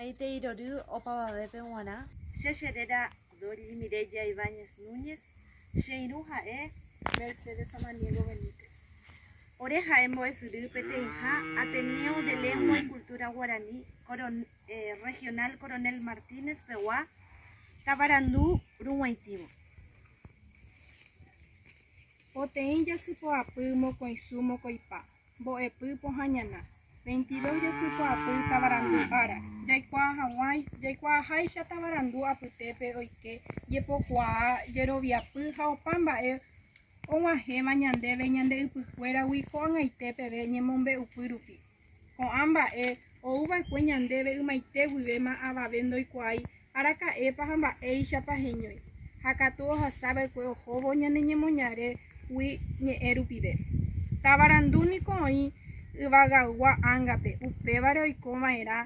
Aite irory opavavépe g̃uarã. Che che réra Doris Mireya Ibáñez Núñez, che irũ ha'e Mercedes Samaniego Benítez. Ore ha'e mbo'esyry peteĩha Ateneo de Lengua y Cultura Guaraní Regional Coronel Martínez pegua tavarandu rug̃uaitĩvo. Poteĩ jasypoapy mokõisu mokõipa, Mbo'epy pohã ñana. Veintidós jasypa'apy tavarandu ára. Jaikuaa hag̃ua jaikuaaháicha tavarandu apytépe oike jepokuaa, jeroviapy ha opa mba'e og̃uahẽva ñandéve ñande ypykuéragui ko'ag̃aite peve ñemombe'upy rupi. Ko'ã mba'e ou va'ekue ñandéve ymaite guivéma avave ndoikuaái Araka'épa ha mba'éichapa heñói, ha katu ohasa va'ekue ohóvo ñane ñemoñaregui ñe'ẽ rupive. Tavarandu niko oĩ yvagaygua ángape, upévare oiko va'erã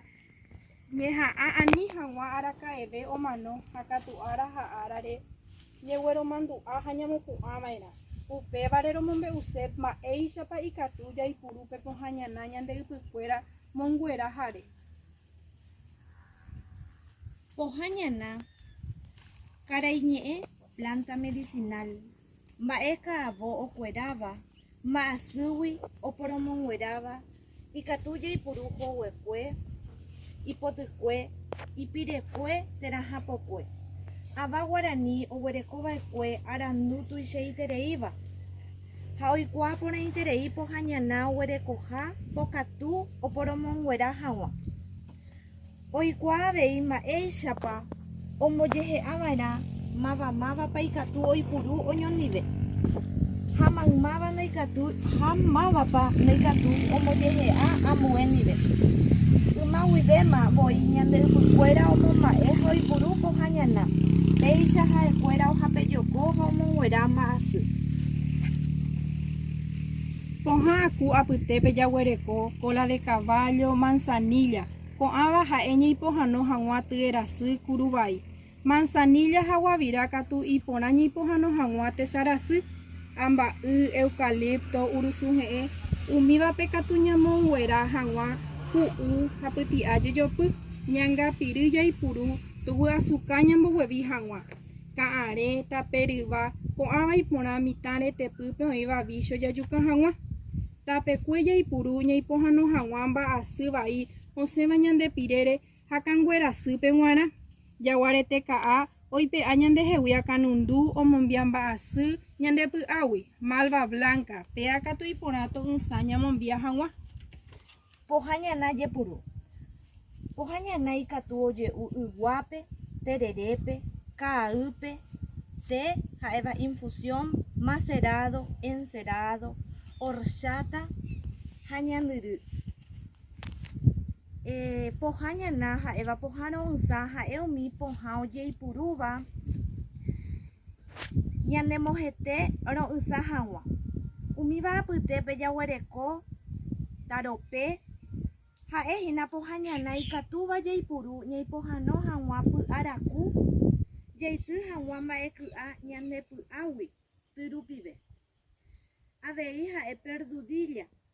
ñeha'ã ani hag̃ua araka'eve omano ha katu ára ha árare ñegueromandu'a ha ñamopu'ã va'erã. Upévare romombe'use mba'éichapa ikatu jaipuru pe pohãñana ñande ypykuéra monguerahare. Pohã ñana, karaiñe'ẽ, planta medicinal, mba'e ka'avo okueráva, mba'asýgui oporomongueráva, ikatu jaipuru hoguekue, ipotykue, ipirekue térã hapokue, ava guarani oguerekova'ekue arandu tuichaitereíva. ha oikuaa porãiterei pohãñana oguerekoha pokatu oporomonguera hag̃ua. Oikuaa avei mba'éichapa ombojehe'ava'erã mavamávapa ikatu oipuru oñondive, ha mávapa noikatúi ombojehe'a ambue ndive. Yma guivéma voi ñande ypykuéra omomba'e ha oipuru pohãñana, péicha ha'ekuéra ohapejokóva omonguera mba'asy. Pohã aku apytépe jaguereko cola de caballo, manzanilla, ko'ãva ha'e ñeipohano hag̃ua tyerasy, kuruvai. Manzanilla ha guavira katu iporã ñeipohano hag̃ua tesarasy, amba'y, eucalipto, urusuhe'ẽ, umívape katu ñamounguera hag̃ua hu'u ha pyti'a jejopy, ñangapyry jaipuru, tuguasuka ñamboguevi hag̃ua. ka'arẽ, tape ryva, ko'ãva iporã mitã retepýpe oĩva vícho jajuka hag̃ua. Tapekue jaipuru ñaipohano hag̃ua mba'asy vai osẽva ñande pirére ha kanguerasýpe g̃uarã. Jaguarete ka'a oipe'a ñandehegui akanundu omombia mba'asy ñande py'águi, malva blanca, péa katu iporã to'ysã ñamombia hag̃ua. Pohã ñana jepuru. Pohã ñana ikatu oje'u yguápe, tererépe, ka'aýpe, té ha'éva infusión, macerádo, encerádo, horcháta ha ñandyry. Pohã ñana ha'éva pohã ro'ysã ha'e umi pohã ojeipurúva. ñanemohete ro'ysã hag̃ua. Umíva apytépe jaguereko Tarope, ha'e hína pohã ñana ikatúva jaipuru ñaipohano hag̃ua py'araku jaity hag̃ua mba'eky'a ñane py'águi ty rupive. Avei ha'e perdudilla,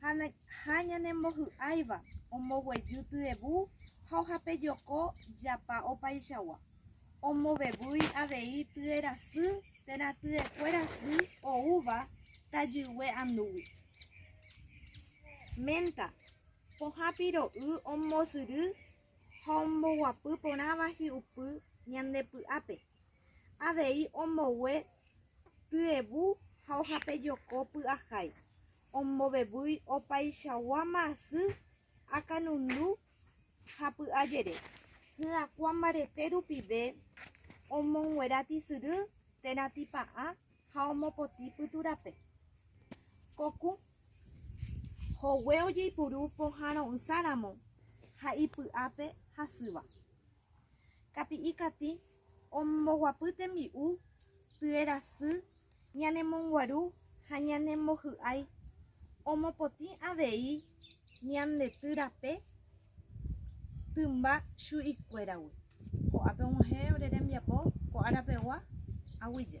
ha ñanembohy'áiva omboguejy tyebu ha ohapejoko japa opaichagua, omovevýi avei tyerasy térã tyekuéra sy oúva tajygue andúgui. Ménta, pohã piro'y ombosyry ha omboguapy porãva hi'upy ñande py'ápe, avei ombogue Tyevũ ha ohape joko py'ahái, ombovevúi opaichagua masy akanundu ha py'a jere, hyakuã mbarete rupive omonguera tisyry térã tipa'ã ha omopotĩ pytu rape. Kokũ, hogue ojeipuru pohã ro'ysã ramo ha ipy'ápe hasýva. Kapi'i katĩ. Omboguapy tembi'u, tyerasy, ñanemonguaru ha ñanembohy'ái omopotĩ avei ñandety rape tymba chu'ikuéragui. Ko'ápe og̃uahẽ ore rembiapo ko ára pegua aguyje.